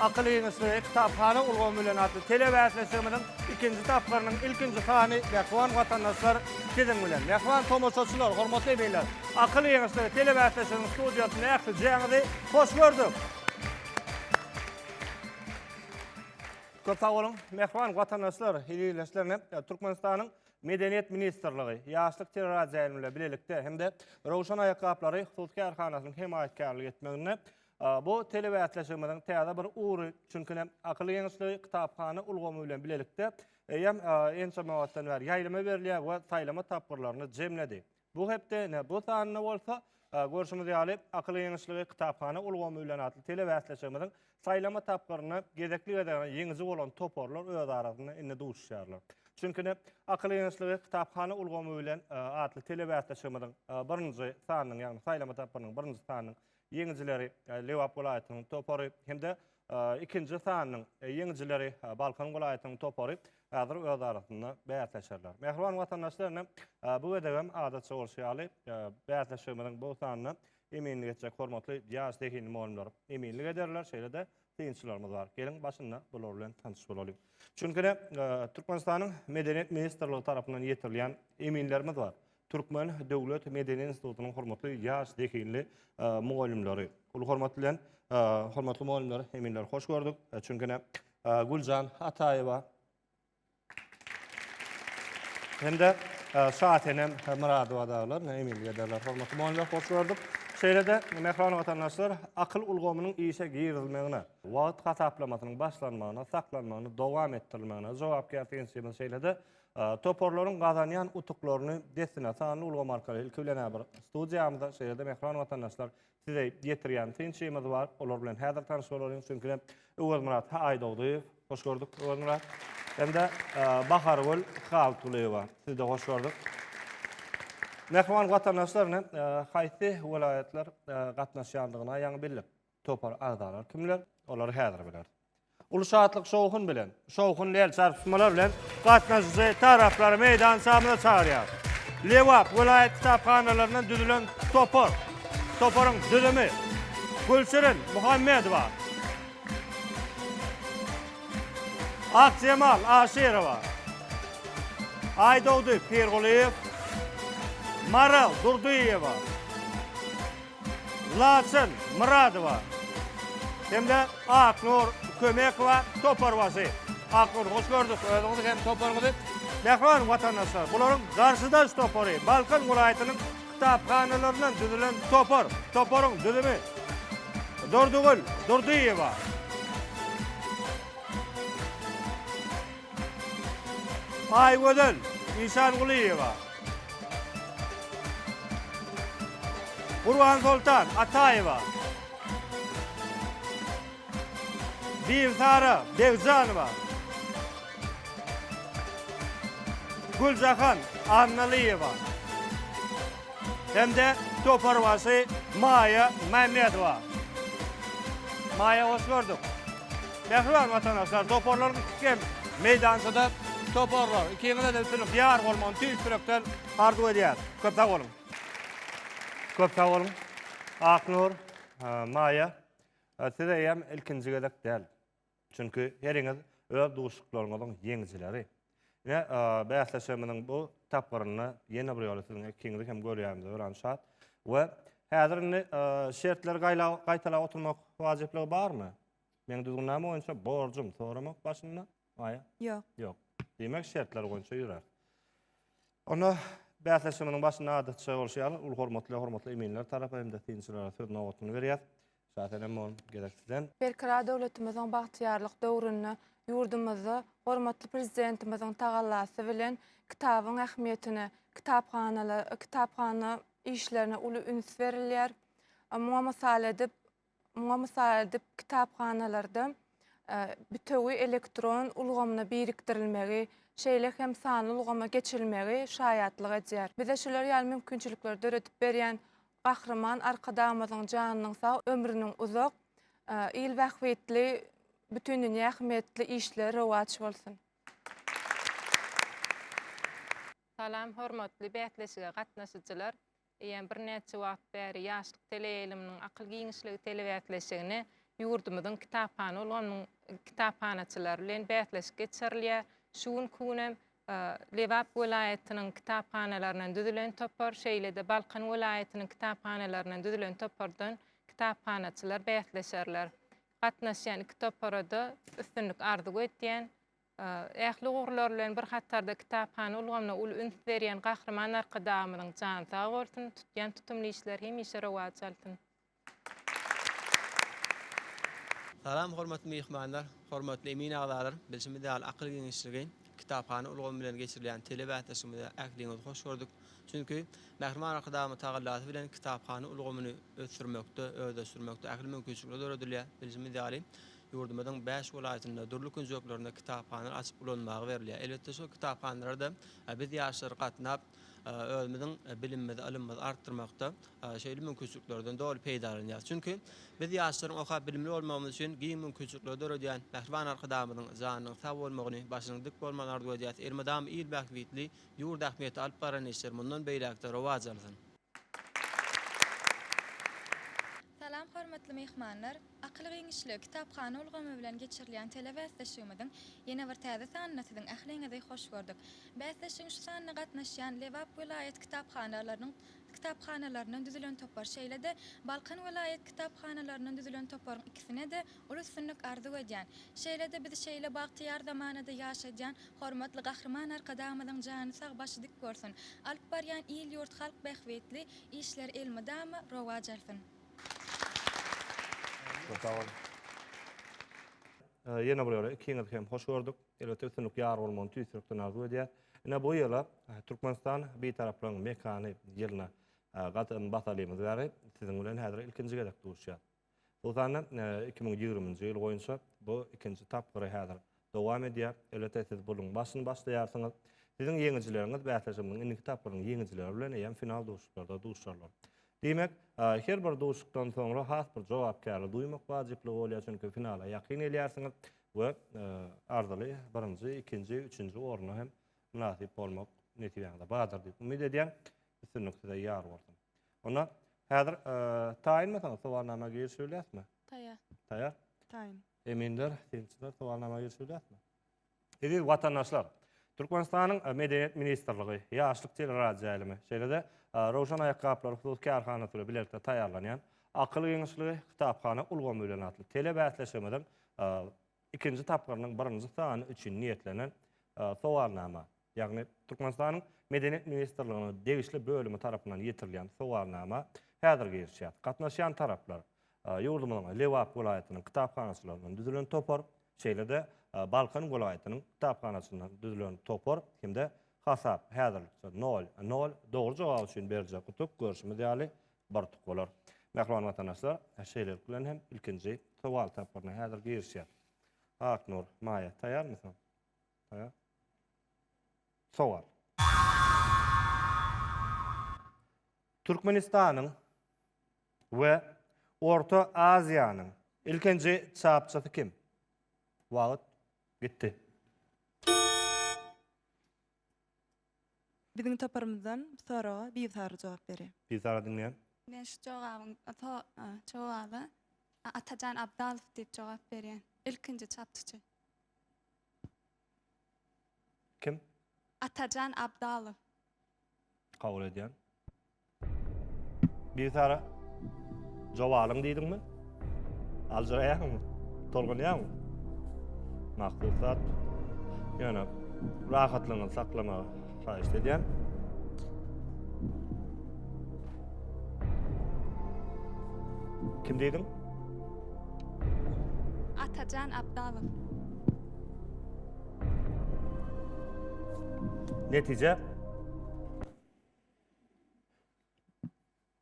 Akyl ýeňişleri kitaphana ulgamy bilen atly telebäsleşigimiziň ikinji tapgyrynyň ilkinji sany Mähriban watandaşlar siziň bilen. Mähriban tomaşaçylar, hormatly eminler! Akyl ýeňişleri telebäsleşiginiň studiýasynda ählijeňizi hoş gördük! Köp sag boluň! Mähriban watandaşlar, ildeşlerine Türkmenistanyň Medeniýet ministrligi, Ýaşlyk teleradioýaýlymybilen bilelikde hem-de Röwşen aýakgaplary hususy kärhanasynyň hemaýatkärlik etmeginde Bu telebäsleşigimiziň täze bir ugry, çünki ine, Akylly geňeşligi kitaphana ulgamy bilen bilelikde eýýäm ençeme wagtdan bäri ýaýlyma berilýär we saýlama tapgyrlaryny jemledi. Bu hepde ine, bu sanda bolsa, görşümiz ýaly, Akylly geňeşligi kitaphana ulgamy bilen atly telebäsleşigimiziň saýlama tapgyryna gezekli-gezegine ýeňiji bolan toparlar öz arasynda indi duşuşýarlar. Çünki ine, Akylly geňeşligi kitaphana ulgamy bilen atly telebäsleşigimiziň birinji sanynyň, ýagny saýlama tapgyrynyň birinji sanynyň ýeňijileri Lebap welaýatynyň topary hem-de ikinji sanynyň ýeňijileri Balkan welaýatynyň topary häzir öz arasynda bäsleşerler. Mähriban watandaşlar, ine, bu gezegem adatça bolşy ýaly, bäsleşigimiziň bu sanyna eminlik etjek hormatly ýaş zehinli mugallymlar eminlik ederler, şeýle-de synçylarymyz bar. Geliň başynda bular bilen tanyş bolalyň. Çünki-de Türkmenistanyň Medeniýet ministrligi tarapyndan ýetirilýän eminlerimiz bar. Türkmen döwlet medeni institutynyň hormatly ýaş zehinli mugallymlary. Uly hormat bilen hormatly mugallymlar, eminler hoş gördük. Çünki-de Güljan Ataýewa, Hem-de Şasenem Myradowa daglar, ne emin ederler, hormatly mugallymlar, hoş gördük. Şeýle-de, mähriban watandaşlar, akyl ulgamynyň işe girizilmegine, wagt hasaplamasynyň başlanmagyna, saklanmagyna, dowam etdirilmegine, jogapkär synçymyz şeýle-de toparlaryň gazanýan utuklaryny dessine sanly ulgam arkaly ilki bilen-ä bir studiýamyza, şeýle-de, mähriban watandaşlar, Size getirýän synçymyz bar. Olar bilen häzir tanyş bolalyň. Çünki Öwezmyrat ha Aýdogdyýew. Hoş gördük Öwezmyrat. Hem-de Bahargül Haltulyýewa. Sizi-de hoş gördük. Mähriban watandaşlar, ine, haýsy welaýatlar gatnaşýandygyny ýaňy bildik. Topar agzalary kimler? Olary häzir bileris. Uly şatlyk-şowhun bilen, şowhunly el çarpyşmalar bilen gatnaşyjy taraplary meýdan şamyna çagyrýar. Lebap welaýat kitaphanalaryndan düzülen topar. Toparyň düzümi, Gülşirin Muhammedowa, Akjemal Aşyrowa, Aýdogdy Pirgulyýew, Maral Durdyýewa, Laçyn Myradowa hem-de Aknur Kömekowa toparbaşy. Aknur, hoş gördük özüňizi hem toparyňyzy. Mähriban watandaşlar, bularyň garşydaş topary, Balkan welaýatynyň kitaphanalaryndan düzülen topar. Toparyň düzümi Durdygül Durdyýewa. Aýgözel Işangulyýewa, Gurbansoltan Ataýewa, Bigsara Begjanowa, Güljahan Annalyýewa hem-de toparbaşy Maýa Mämmedowa. Maýa, hoş gördük! Mähriban watandaşlar, toparlaryň ikisi hem meýdançada toparlar. Ikiňize-de üstünlik ýar bolmagyny tüýs ýürekden arzuw edýäris. Köp sag boluň! Köp sag boluň! Aknur, Maýa, siz eýýäm ilkinji gezek däl. Çünki heriňiz öz duşuşyklaryňyzyň ýeňijileri. Ine, bäsleşigimiziň bu tapgyrynda ýene bir ýola siziň ikiňizi hem görýänimize örän şat. We häzir indi şertleri gaýtalap oturmak wajyplygy barmy? Meň düzgünnama boýunça borjum soramak başynda. Maýa? Ýok. Ýok. Diýmek, şertler boýunça ýörer. Onda bäsleşigimiziň başynda adatça bolşy ýaly, uly hormatly hormatly eminler tarapa hem-de synçylara söz nobatyny berýär. Şasenem mol gezek sizden. Berkarar döwletimiziň bagtyýarlyk döwründe ýurdumyzda hormatly Prezidentimiziň tagallasy bilen kitabyň ähmiýetine, kitaphana kitaphana işlerine uly üns berilýär. Muňa mysal edip, muňa mysal edip kitaphanalarda bütewi elektron ulgamyna birikdirilmegi, şeýle hem sanly ulgama geçilmegi şaýatlyk edýär. Bize şular ýaly mümkinçilikleri döredip berýän Gahryman Arkadagymyzyň janynyň sag, ömrüniň uzak, il bähbitli, bütindünýä ähmiýetli işleri rowaç bolsun! Salam, hormatly bäsleşige gatnaşyjylar! Eýýäm birnäçe wagt bäri Ýaşlyk teleýaýlymynyň akyl giňişligi telebäsleşigini ýurdumyzyň kitaphana ulgamynyň kitaphanaçylary bilen bäsleşik geçirilýär. Şu günki gün hem Lebap welaýatynyň kitaphanalaryndan düzülen topar, şeýle-de Balkan welaýatynyň kitaphanalaryndan düzülen topardan kitaphanaçylar bäsleşerler. Gatnaşýan iki topara-da üstünlik arzuw edýän. Ähli ugurlar bilen bir hatarda kitaphana ulgamyna uly üns berýän Gahryman Arkadagymyzyň jany sag bolsun, tutýan tutumly işleri hemişe rowaç alsyn! Salam hormatly myhmanlar, hormatly emin agzalar, bilşimiz ýaly akyl giňişligi kitaphana ulgamy bilen geçirilýän tele bäsleşigimize ähliňizi hoş gördük. Çünki Mähriban Arkadagymyz tagallasy bilen kitaphana ulgamyny ösdürmekde, özleşdirmekde ähli mümkinçilikler döredilýär. Bilşimiz ýaly, ýurdumyzyň bäş welaýatynda, dürli künjeklerinde kitaphanalar açyp ulanmaga berilýär. Elbetde şol kitaphanalarda biz ýaşlar gatnap, özümiziň bilimimizi, ylymymyzy artdyrmakda şeýle mümkinçiliklerden doly peýdalanýarys. Çünki biz ýaşlaryň okap bilimli bolmagymyz üçin giň mümkinçilikleri döredýän mähriban Arkadagymyzyň janynyň sag bolmagyny, başynyň dik bolmagyny arzuw edýäris. Elmydama il bähbitli, ýurt ähmiýetli alyp baran işleri mundan beýläk-de rowaç alsyn! Salam hormatly myhmanlar! Akyl giňişligi kitaphana ulgamy bilen geçirilýän telebäsleşigimiziň ýene bir täze sanyna siziň ähliňizi hoş gördük. Bäsleşigiň şu sanyna gatnaşýan Lebap welaýat kitaphanalarynyň kitaphanalaryndan düzülen topar şeýle-de Balkan welaýat kitaphanalaryndan düzülen toparyň ikisine-de Uly üstünlik arzuw edýän, şeýle-de bizi şeýle bagtyýar zamanada ýaşadýan hormatly Gahryman Arkadagymyzyň jany sag başy dik bolsun, alyp barýan il ýurt halk bähbitli işleri elmydama rowaç alsyn. Ýene bir ýola ikiňizi hem hoş gördük. Elbetde üstünlik ýar bolmagyny tüýs ýürekden arzuw edýäs. Ine bu ýyla Türkmenistan Bitaraplaryň mekany ýylyna gadam basalymyz bäri siziň bilen häzir ilkinji gezek duşýas. Hususan-da, iki müň ýigriminji ýyl boýunça bu ikinji tapgyry häzir dowam edýär. Elbetde, siz bu ýylyň başyny başlaýarsyňyz. Siziň ýeňijileriňiz bäsleşigimiziň indiki tapgyrynyň ýeňijileri bilen eýýäm final duşuşyklarda duşarlar. Diýmek, her bir duşuşykdan soňra has bir jogapkärli duýmak wajyplygy bolýar, çünki finala ýakyn gelýärsiňiz we arzyly birinji, ikinji, üçünji orna hem mynasyp bolmak nesibeňize bardyr diýip umyt edýän. Üstünlik size ýar bolsun! Onda häzir taýynmysyňyz sowalnama girişip bilýäsmi? Taýýar. Taýýar. Taýyn. Eminler, synçylar sowalnama girişip bilýäsmi? Eziz watandaşlar, Türkmenistanyň e, Medeniýet ministrligi, Ýaşlyk teleradioýaýlymy, şeýle-de e, Rowşan aýakgaplary hususy kärhanasy bilen bilelikde taýýarlanýan Akyl giňişligi kitaphana ulgamy bilen atly telebäsleşigimiziň e, ikinji tapgyrynyň birinji sany üçin niýetlenen sowalnama. ýagny Türkmenistanyň Medeniýet ministrliginiň degişli bölümi tarapyndan ýetirilýän sowalnama häzir girişýär. Gatnaşýan taraplar, ýurdumyzyň Lebap welaýatynyň kitaphanaçylaryndan düzülen topar, şeýle-de Balkan welaýatynyň kitaphanaçyndan düzülen topar hem-de hasap häzirlikçe nol, nol, dogry jogap üçin berjek utuk, görşümiz ýaly, bir utuk bolar. Mähriban watandaşlar, şeýlelik bilen hem ilkinji sowal tapgyryna häzir girişýär. Aknur, Maýa, taýýarmysyňyz? Sowal. Türkmenistanyň we Orta Aziýanyň ilkinji çapçysy kim? Wagt gitdi. Biziň toparymyzdan bu soraga Bigsary jogap berýär. Bigsary diňleýän. Men şu jogabyň jogaba Atajan Abdalow diýip jogap berýän. Ilkinji çapçyçy. Kim? Atajan Abdalow. Kabul edýän. Bigsara, joba alyň diýdiňmi? Aljyraýaňmy? Tolgunýaňmy? Makul zat. Ýöne rahatlygyňyzy saklamagy haýyş edýän. Kim diýdiň? Atajan Abdalow. Netije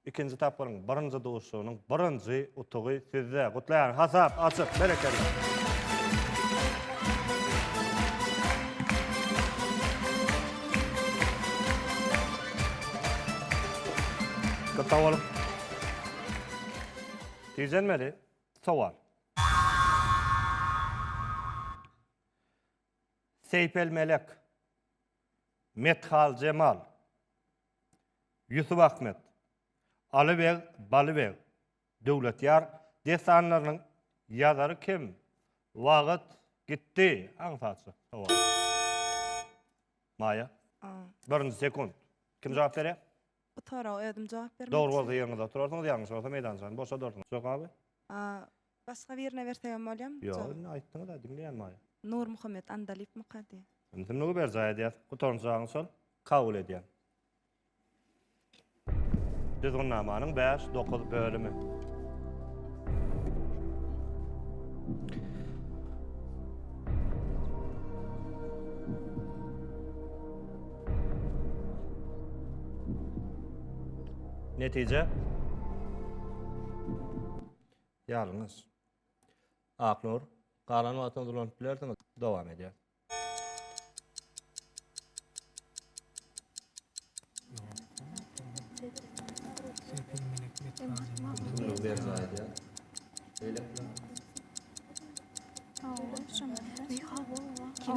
ikinji tapgyryň birinji duşuşygynyň birinji utugy sizde. Gutlaýan hasap açyk, berekella. Köp sag boluň. Tijenmeli. Sowal. Seýpelmelek, Methaljemal, Ýusupahmet, Alybeg, Balybeg, Döwletýar dessanlarynyň ýazary kim? Wagt gitdi. Aňsatja sowal. Maýa. Birinji sekunt. Kim jogap berýär? Bu soraga özüm jogap bermek Dogry bolsa ýeriňizde oturarsyňyz, ýalňyş bolsa meýdançany boşadarsyňyz. Jok abi? A, başga birine bersegem bolýamy? Ýok, Jogap. indi aýtdyňyz-a, diňleýän maýa. Nurmuhammet Andalypmyka diýýär. Indi kimligi berjaý edýäs? Gutaran jaňyz şol. Kabul edýän. Düzgünnamanyň bäş, dokuz bölümi. Netije Ýalňyş. Aknur, galan wagtyňy dolanyp bilersiňiz. Dowam edýär. Bunu bir zayda. Öyle mi? Aa, şamata. Ne hava? Kim?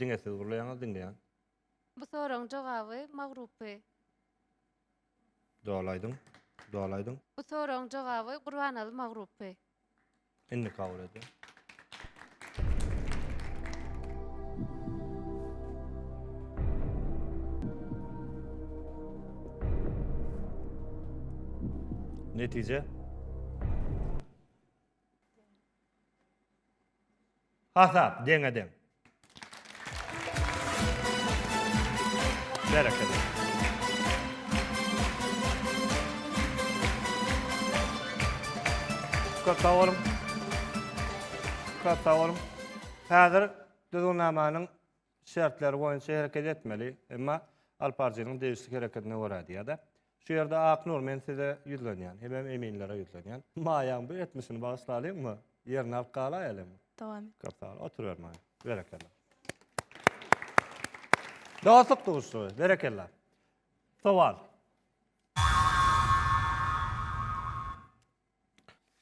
Diňe siz gürleýäňiz diňleýän. Bu soragyň jogaby Magrupy. Doly aýdyň. Doly aýdyň. Bu soragyň jogaby Gurbanaly Magrupy. Indi kabul edýän. Netije. Hasap deňe-deň. Berekella. Köp sag boluň. Köp sag boluň. Häzir düzgünnamanyň şertleri boýunça hereket etmeli, emma Alparjynyň degişli hereketine görä diýýär-de. Şu ýerde Aknur, men size ýüzlenýän, hemem eminlere ýüzlenýän. Maýaň bu etmişini bagyşlalyňmy? Ýerini alyp galaýalyňmy? Dowam et. Köp sag bol. Oturyber Maýa. Berekella. Dostluk duşuşygy. Berekella. Sowal.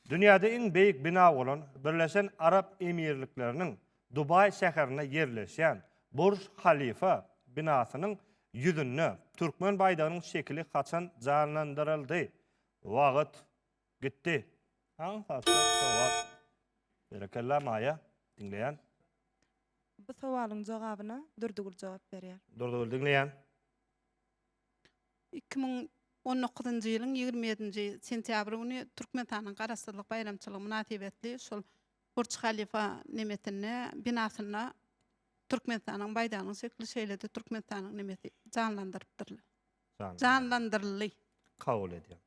Dünýäde iň beýik bina bolan Birleşen Arap Emirlikleriniň Dubaý şäherinde ýerleşýän Burj Halifa binasynyň ýüzünde türkmen baýdagynyň şekili haçan janlandyryldy? Wagt gitdi. Berekella Maýa, diňleýän. Bu sowalyň jogabyna Durdygül jogap berýär. Durdygül, diňleýän. Iki müň on dokuzynjy ýylyň ýigrimi ýedinji sentýabry güni Türkmenistanyň Garaşsyzlyk baýramçylygy mynasybetli şol Burç Halifa nemetinde binasynda Türkmenistanyň baýdagynyň şekili şeýle-de Türkmenistanyň nemesi janlandyrypdyrlar. Janlandyryldy. Kabul edýär.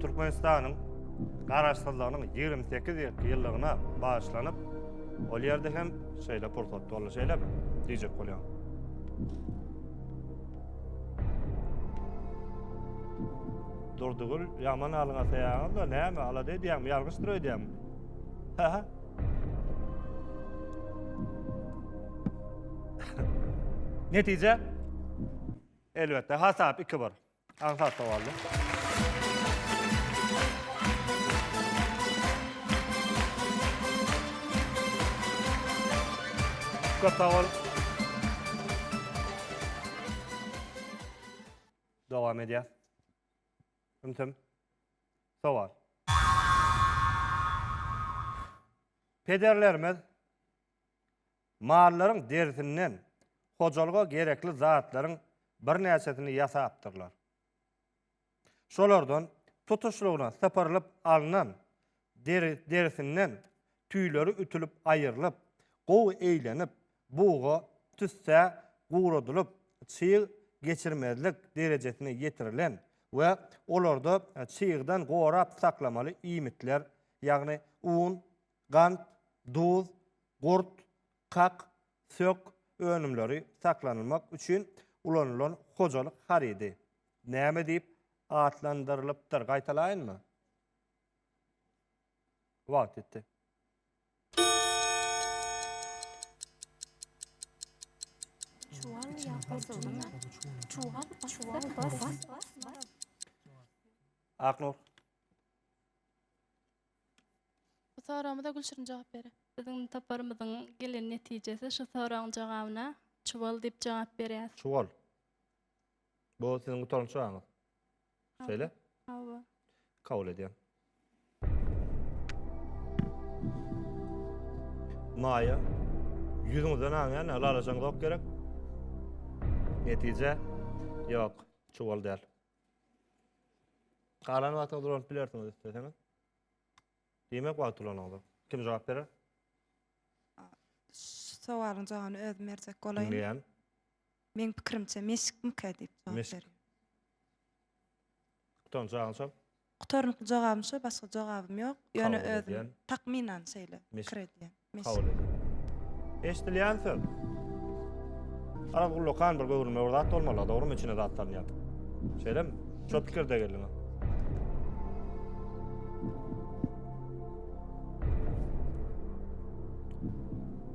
Türkmenistanyň garaşsyzlygynyň 28 ýyllyk ýyllygyna bagyşlanyp, ol ýerde hem şeýle pursat boldy, şeýle diýjek bolýan. Durdugül, ýaman alyňa saýaňyz da, näme, alada edýäňmi, ýalňyşdyr öýdýäňmi? Ha-ha. Netije? Elbetde, hasap 2-1. Aňsat sowaldy. Köp sag bol. Dowam edýär. Ümsüm. Sowal. Pederlerimiz mallaryň derisinden hojalyga gerekli zatlaryň birnäçesini ýasapdyrlar. Şolardan tutuşlygyna sypyrylyp alnan deri derisinden Tüýleri ütülip aýrylyp, gowy eýlenip, buga tüssä guradylyp, çyg geçirmezlik derejesine ýetirilen we olarda çygdan gorap saklamaly iýmitler, ýagny un, gant, duz, gurt, kak, sök önümleri saklanylmak üçin ulanylan hojalyk harydy näme diýip atlandyrylypdyr? Gaýtalaýynmy? Wagt ýetdi. Çuwal ýa-da çuwal, çuwal bas. Aknur. Bu soragymyza Gülşirin jogap berer. Biziň toparymyzyň gelen netijesi şu soragyň jogabyna çuwal diýip jogap berýär. Çuwal. Bu siziň gutaran çagaňyz. Söyle. Hawa. Kabul edýän. Maýa. Ýüzüňizden aňýan, lalajaň zok gerek. Netije. Ýok, çuwal däl. Galan wagty ulanyp bilersiňiz isleseňiz. Diýmek wagty ulanyňyz. Kim jogap berer? Şu sowalyň jogabyny özüm berjek bolaýyn. Diňleýän. Meň pikirimçe meşikmikä diýip jogap Meşik. berýär. Utanjagyň şol. Gutarnykly jogabym şo, başga jogabym ýok. Ýöne Kabul özüm edýän. takmynan şeýle Meşik. pikir edýän. Meşik. Kabul edýän. Eşdilýän söz. Araz ullakan bir göwrülme bir zat bolmaly, dogrymy içine zat salynýar. Şeýlemi? Şo pikirde geldiňa.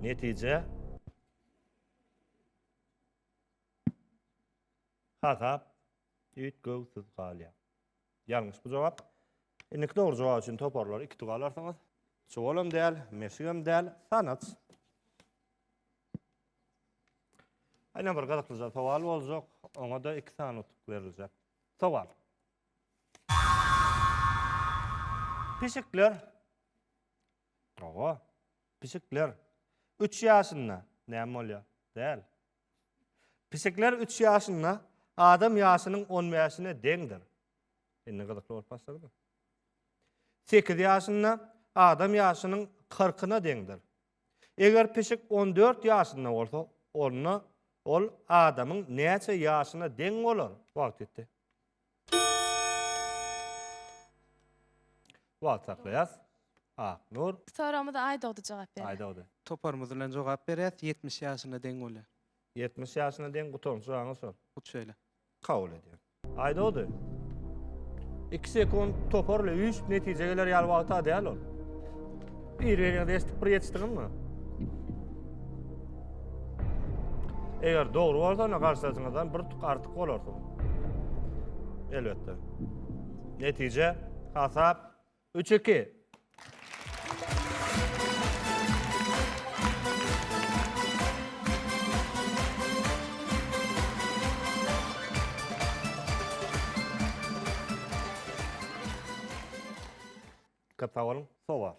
Netije Hasap üýtgewsiz galýar. Ýalňyş bu jogap. Indiki dogry jogap üçin toparlary iki tuga alarsyňyz. Çuwal hem däl, meşik hem däl, sanaç. Aýna bir gyzyklyja sowal boljak. Oňa da iki sany utuk beriljek. Sowal. Pişikler Hawa. Pişikler üç ýaşynda näme bolýar? Däl. Pişikler üç ýaşynda adam ýaşynyň on bäşine deňdir. Indi gyzykly bolup başladymy? Sekiz ýaşynda adam ýaşynyň kyrkyna deňdir. Eger pişik on dört ýaşynda bolsa, onda ol adamyň näçe ýaşyna deň bolar? Wagt ýetdi. Wagt saklaýas. Aknur. Soragymyza Aýdogdy jogap berýär. Aýdogdy. Toparymyz bilen jogap berýäs. Ýetmiş ýaşyna deň bolýar. Ýetmiş ýaşyna deň gutan suragyňy sor. Hut şeýle. Kabul edýän. Aýdogdy. Iki sekunt topar ile üýşüp netijä geler ýaly wagta däl ol. Ireniňizi eşidip bir ýetişdiňizmi? Eger dogry bolsa, onda garşydaşyňyzdan bir tuk artyk bolarsyň. Elbetde. Netije, hasap 3-2. Köp sag boluň. Sowal.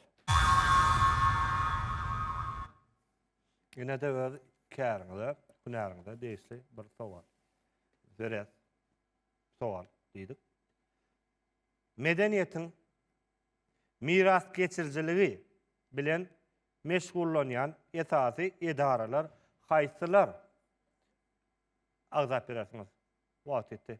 Ine-de öz käriňize, hünäriňize degişli bir sowal. Döres sowal diýdik. Medeniýetiň mirasgeçirijiligi bilen meşgullanýan esasy edaralar haýsylar? Agzap berersiňiz. Wagt ýetdi.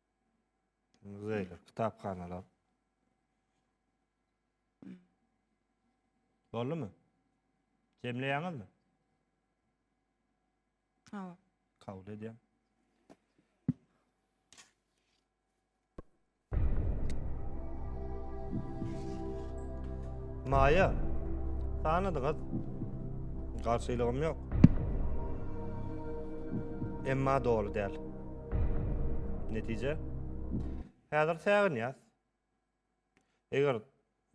Muzeýler, kitaphanalar. Boldumy? Jemleýäňizmi? Hawa. Kabul edýän. Maýa, sanadyňyz. Garşylygym ýok. Emma doly däl. Netije? Häzir säginýäs. Eger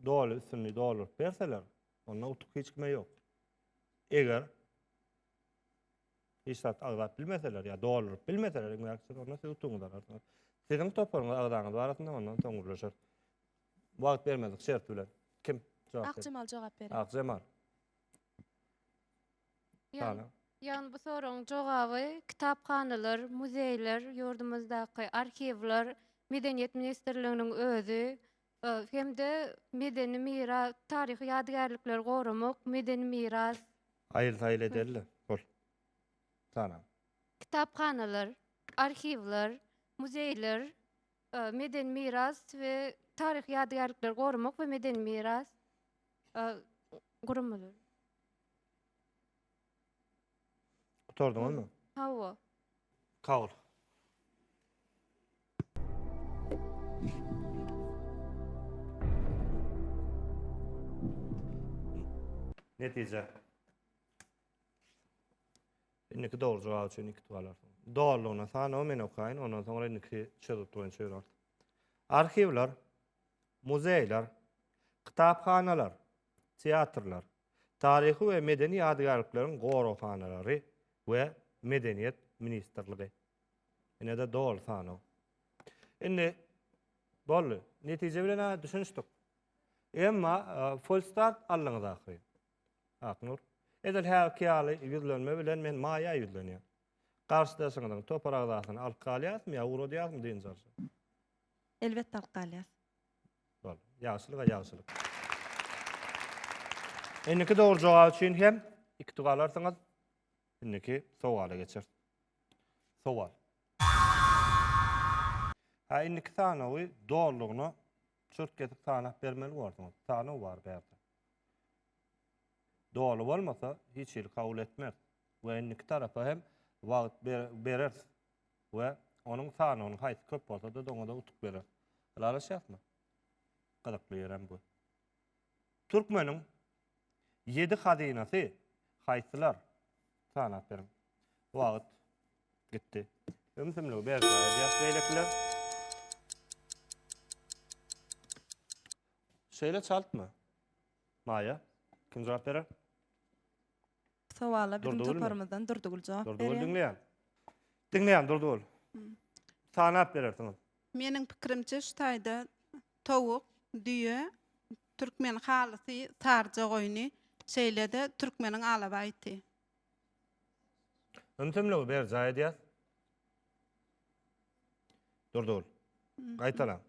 doly üstünlügi dolduryp berseler, onda utuk hiç kime ýok. Eger hiç zat agzap bilmeseler ýa dolduryp bilmeseler, iňňäkçiler onda siz utugyňyzy alarsyňyz. Siziň toparyňyz agzaňyz barasynda ondan soň gürleşer. Wagt bermedik şert bilen. Kim jogap berer? Akjemal jogap berer. Akjemal. Ýagny, ýagny bu soragyň jogaby kitaphanalar, muzeýler, ýurdumyzdaky arhiwler, Medeniýet ministrliginiň özi e, hem-de medeni miras, taryhy ýadygärlikleri goramak, medeni miras, Aýyl-saýyl edeli bol. Salam. kitaphanalar, arhiwler, muzeýler, Medeni miras we taryhy ýadygärlikleri goramak we medeni miras guramalary. Gutardyňyzmy? Hawa. Kabul. Netije. Indiki dogry jogap üçin iki tuwal alarsyň. Dolugyna sanawy men okaýyn, ondan soňra indiki çözgüt boýunça ýör art. Arhiwler, muzeýler, kitaphanalar, teatrlar, taryhy we medeni ýadygärlikleriň goraghanalary we medeniýet ministrligi. Ine-de doly sanaw. Indi boldy. Netije bilen düşünişdik. Emma e, full start aldyňyz ahyry. Aknur. Edil häzirki ýaly ýüzlenme bilen men Maýa ýüzlenýän. Garşydaşyňyzyň topar agzasyny alyp galýasmy ýa ugradýasmy dynç alşa? Elbetde alyp galýas. Bol. Ýagşylyga ýagşylyk. Indiki dogry jogap üçin hem iki tug alarsyňyz. Indiki sowala geçeris. Sowal. Ha indiki sanawy dolugyna çürt kesip sanap bermeli borsuňyz. Sanaw bar bärde. Doly bolmasa, hiç hili kabul etmeris we indiki tarapa hem wagt bereris we onuň sanawynyň haýsy köp bolsa-da doňada utuk bereris. Ylalaşýasmy? Gyzykly ýerem bu. Türkmeniň ýedi hazynasy haýsylar? Sanap beriň. Wagt gitdi. Ümsümligi berjaý edýäs beýlekiler. Şeýle çaltmy? Maýa, kim jogap berer? Bu sowala biziň Durdygülmi? toparymyzdan Durdygül jogap Durdygül berýär. diňleýän. Diňleýän Durdygül. Sanap berersiňiz. Meniň pikirimçe şu taýda towuk, düýe, türkmen halysy saryja goýny, şeýle-de türkmeniň alabaý iti. Ümsümligi berjaý edýär. Durdygül. Gaýtalaň.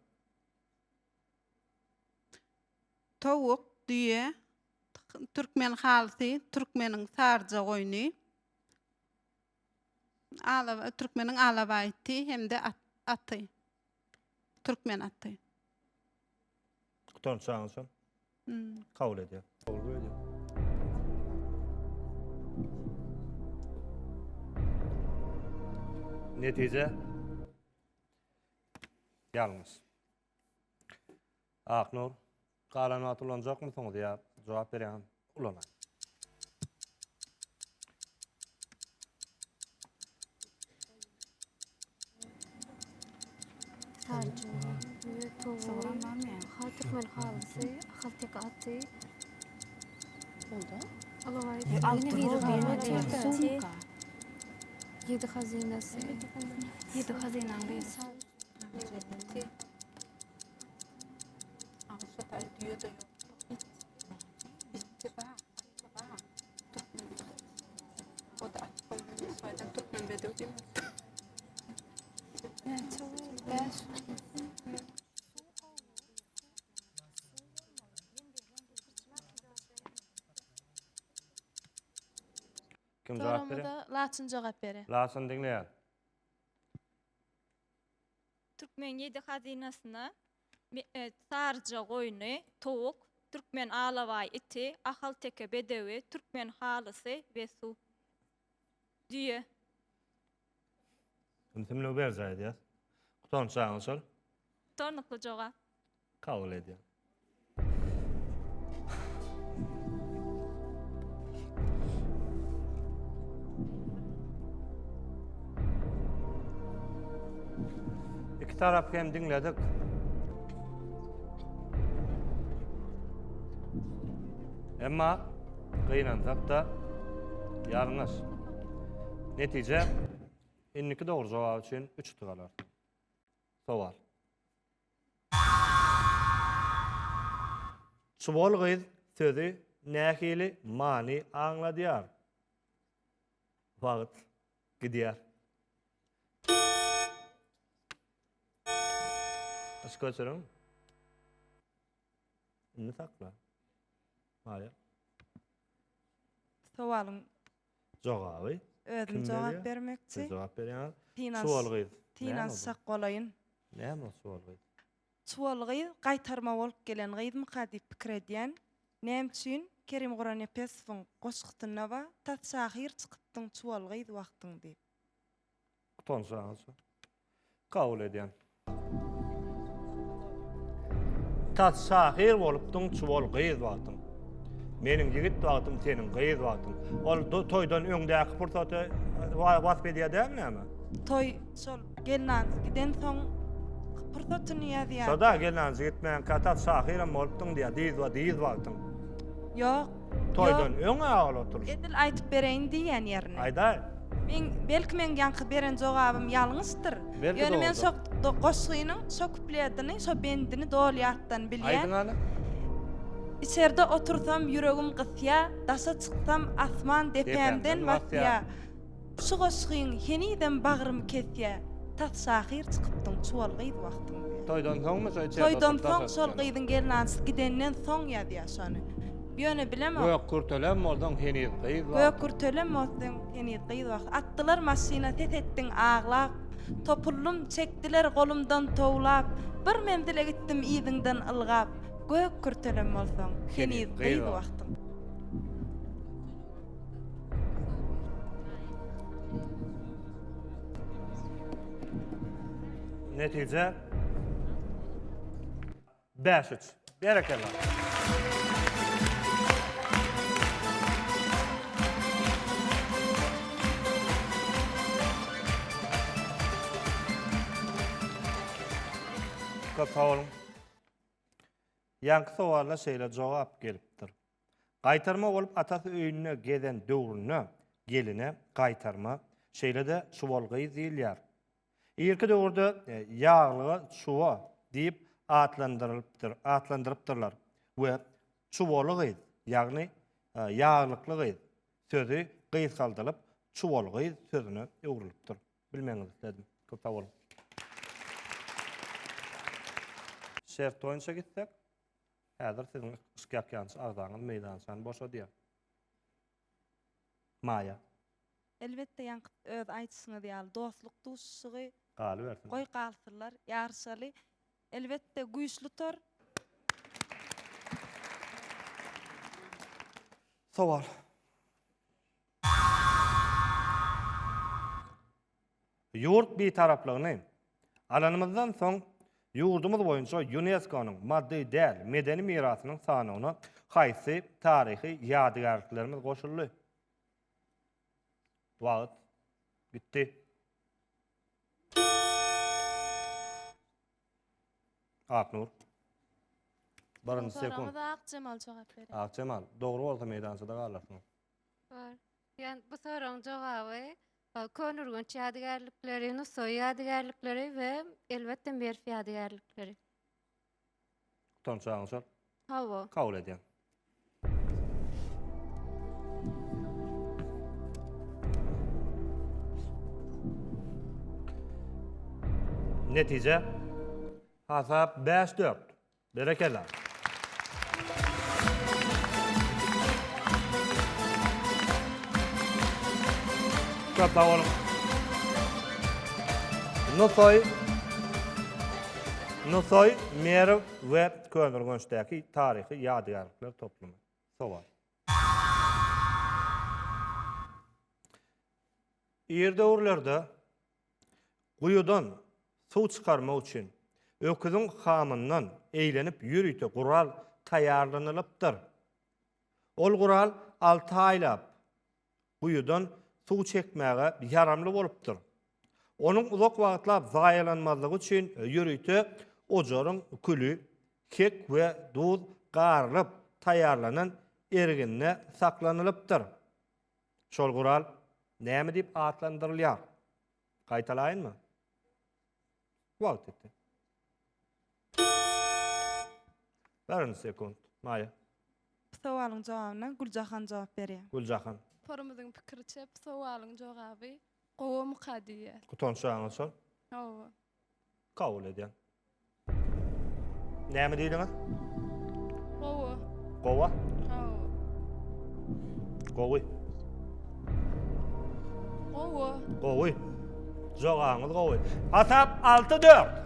Towuk, düýe, türkmen halysy, türkmeniň sarja goýny, ala, türkmeniň alabaý iti hem-de at, aty. Türkmen aty. Gutarym çagyň üçin. Hmm. Kabul edýär. Kabul edýär. Netije. Ýalňyş. Aknur, galan wagty ulanjakmysyňyz ýa jogap berýän ulanaý. Ýedi hazyna. Kim jogap bere? Soragymyza Laçyn jogap bere. Laçyn diňleýär. Türkmen ýedi hazynasyna saryja goýny, towuk, türkmen alabaý iti, ahalteke bedewi, türkmen halysy we suw. Düýe. Indi tümlügi berjaý edýäs. Gutanç ýaly şol. Gutarnykly jogap. Kabul edýän. İki taraf hem dinledik. Emma gynansak da ýalňyş. Netije indiki dogry jogap üçin 3 utup alar. Sowal. Çuwal gyz sözi nähili many aňladýar? Wagt gidýär. Yş göçüriň. Indi sakla. Maýa. Sowalyň Jogaby Özüm jogap bermekçi. Siz jogap berýäňiz. Çuwal gyz. Tinans sak bolaýyn. Näme ol çuwal gyz? Çuwal gyz gaýtarma bolup gelen gyzmyka diýip pikir edýän. Näme üçin? Kerim Guranepesowyň goşgusynda bar, Tas şahyr çykypdyň çuwal gyz wagtyň diýip. Utansaňyz. Kabul edýän. Tas şahyr bolupdyň, çuwal gyz wagtyň. Meniň ýigit wagtym, seniň gyz wagtyň. Ol toýdan öňdäki pursaty wasp edýär däl näme? Toý şol gelnanjy giden soň pursatyny ýazýar. Şoda gelnanjy gitmän katat şahyram bolupdyň diýýär, dyz we dyz wagtyň. Ýok, Toýdan öň aýal oturşy. Edil aýtyp bereýin diýýän ýerini. Aýdaý. Meň, belki meň ýaňky beren jogabym ýalňyşdyr. Belki dogrudyr. Ýöne men şo goşgynyň şo kupledini, şo bendini doly ýatdan bilýän. Aýdyň hany. Içerde otursam ýüregim gysýa, daşa çyksam asman depämden basýa. Şu goşgyň henizem bagrymy kesýä tas şahyr çykypdyň çuwal gyz wagtyň diýä. Toýdan soňmy şo içeride oturyp Toýdan soň şol gyzyň gelnansy gidenden soň ýazýa şony. Ýöne bilemok. Gök kürtelem bolsaň heniz gyz wagtyň. Gök kürtelem bolsaň heniz gyz wagtyň. Atdylar maşyna ses etdiň aglap. Topuldym çekdiler golumdan towlap. Bir menzile gitdim yzyňdan ylgap. Gök kürtelem bolsaň heniz gyz wagtyň. Netije 5-3. Berekella. Köp sag boluň. Ýanky sowala şeýle jogap gelipdir. Gaýtarma bolup atasy öýünde gezen döwründe geline gaýtarma, şeýle-de çuwal gyz diýilýär. Irki döwürde ýaglyga çuwa diýip atlandyrylypdyr, atlandyrypdyrlar we çuwaly gyz, ýagny ýaglykly gyz sözi gysgaldylyp çuwal gyz sözüne öwrülipdir. Bilmegiňizi isledim. Köp sag boluň. Şert boýunça gitsek. Häzir siziň yşkýakýançy agzaňyz meýdançany boşadýar. Maýa. Elbetde ýaňky öz aýdyşyňyz ýaly dostluk duşuşygy. Galybersin. Goý galsynlar, ýaryşaly. Elbetde güýçli tor. Sowal. Ýurt Bitaraplygyny alanymyzdan soň ýurdumyz boýunça Ýunesko-nyň maddy däl medeni mirasynyň sanawyna haýsy taryhy ýadygärliklerimiz goşuldy? Wagt gitdi. Aknur. Birinji sekund. Soragyňyza Akjemal jogap berer. Akjemal, dogry bolsa meýdançada galarsyňyz. Bar. Ýöne bu soragyň jogaby Köneürgenç ýadygärlikleri, Nusaý ýadygärlikleri we elbetde Merw ýadygärlikleri. Utanç agyň şol. Hawa. Kabul edýän. Netije hasap 5-4. Berekella. Köp sag boluň. Nusaý Nusaý, Merw we Köneürgençdäki taryhy ýadygärlikler toplumy. Sowal. Ir döwürlerde Guýudan suw çykarmak üçin öküziň hamyndan eýlenip ýörite gural taýýarlanylypdyr. Ol gural alty aýlap guýudan suw çekmäge ýaramly bolupdyr. Onuň uzak wagtlap zaýalanmazlygy üçin ýörite ojaryň küli, kek we duz garylyp taýýarlanan erginde saklanylypdyr. Şol gural näme diýip atlandyrylýar? Gaýtalaýynmy? Wagt etdi. Bärin sekund. Maýa. Bu sowalyň jogabyna Güljahan jogap berýär. Güljahan. Torumyzyň pikiriçe, bu sowalyň jogaby gowa muka diýýär. Gutanç jaňa şol. Hawa. Kabul edýän. Näme diýdiňiz? Gowy. Gowa? Gowy. Gowy. Gowy. Gowy. Jogaňyz gowy. Hasap 6-4.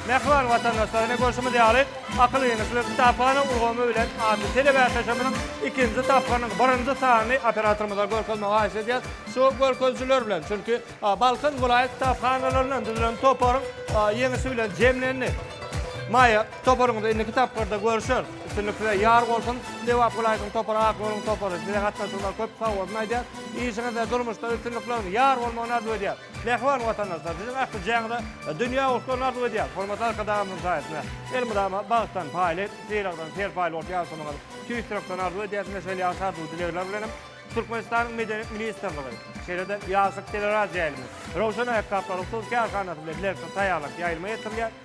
Mähriban watandaşlar, ine görşümiz ýaly, Akyl ýeňişli kitaphana ulgamy bilen atly telebäsleşigimiziň ikinji tapgyrynyň birinji sanyny operatorymyza görkezmegi haýyş edýäs. Şu görkezijiler bilen, çünki Balkan welaýat kitaphanalaryndan düzülen toparyň ýeňişi bilen jemlendi. Maýa, toparyňyzy indiki tapgyrda görüşeris. Üstünlik size ýar bolsun! Lebap welaýatynyň topary Akgöwrüň topary. Size gatnaşyjylar köp sag bolsun aýdýar. Işiňizde, durmuşda üstünlikleriň ýar bolmagyny arzuw edýär. Mähriban watandaşlar siziň ählijäňize dünýä uslulary arzuw edýäris. Hormatly Arkadagymyzyň saýasynda elmydama bagtdan paýly, sylagdan serpaýly bolup ýaşamagyňyzy tüýs ýürekden arzuw edýäris we şeýle ýagşy arzuw-dilegler bilen hem Türkmenistanyň Medeniýet ministrligi, şeýle-de Ýaşlyk teleradioýaýlymy, Röwşen aýakgaplaryň husy kärhanasy bilen bilelikde taýýarlap ýaýlyma ýetirilýän